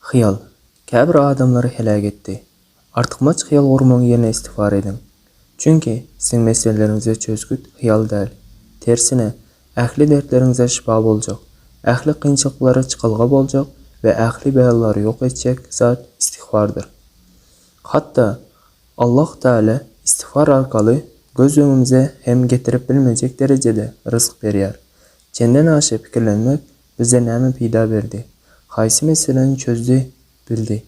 Hyýal, käbir adamlary heläk etdi. Artykmaç hyýal gurmaň ýerine istigfar ediň. Çünki, siziň meseleleriňize çözgüt hyýal däl. Tersine, ähli dertleriňize şypa boljak, ähli kynçylyklara çykalga boljak we ähli belalary ýok etjek zat istigfardyr. Hatda, Allah Teala istigfar arkaly göz öňümize hem getirip bilmejek derejede rysk berýär. Çenden aşa pikirlenmek Bize näme peýda berdi? Haýsy meseläni çözdi, bildi?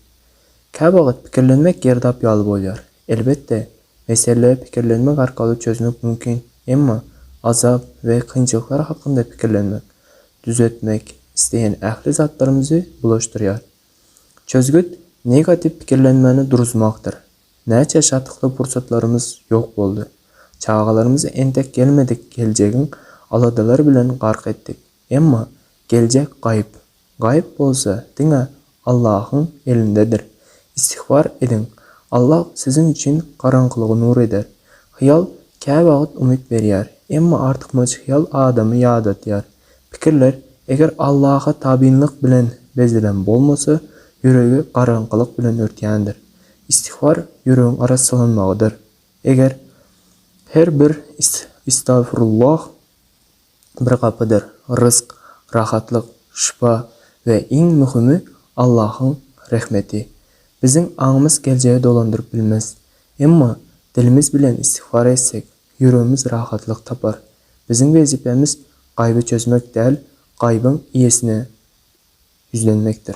Käwagt pikirlenmek girdap ýaly bolýar. Elbetde, mesele pikirlenmek arkaly çözmek mümkin, emma azap we kynçylyklar hakynda pikirlenmek, düzetmek isleýän ähli zatlarymyzy bulaşdyrýar. Çözgüt negatiw pikirlenmäni duruzmakdyr. Näçe şatlykly pursatlarymyz ýok boldy. Çagalarymyzy entek gelmedik geljegiň aladalary bilen gark etdik. Emma geljek gaýyp. Gaýyp bolsa diňe Allahyň elindedir. Istigfar ediň. Allah siziň üçin garaňkylygy nur eder. Hyýal käwagt umyt berýär, emma artykmaç hyýal adamy ýadatýar. Pikirler eger Allaha tabynlyk bilen bezelen bolmasa, ýüregi garaňkylyk bilen örtýändir. Istigfar ýüregiň arassalanmagydyr. Eger her bir Istagfirullah! bir gapydyr, rysk, rahatlyk, şypa we iň möhümi Allahyň rehmeti. Biziň aňymyz geljegi dolandyryp bilmez. Emma dilimiz bilen istigfar etsek, ýüregimiz rahatlyk tapar. Biziň wezipemiz gaýby çözmek däl, gaýbyň iýesine ýüzlenmekdir.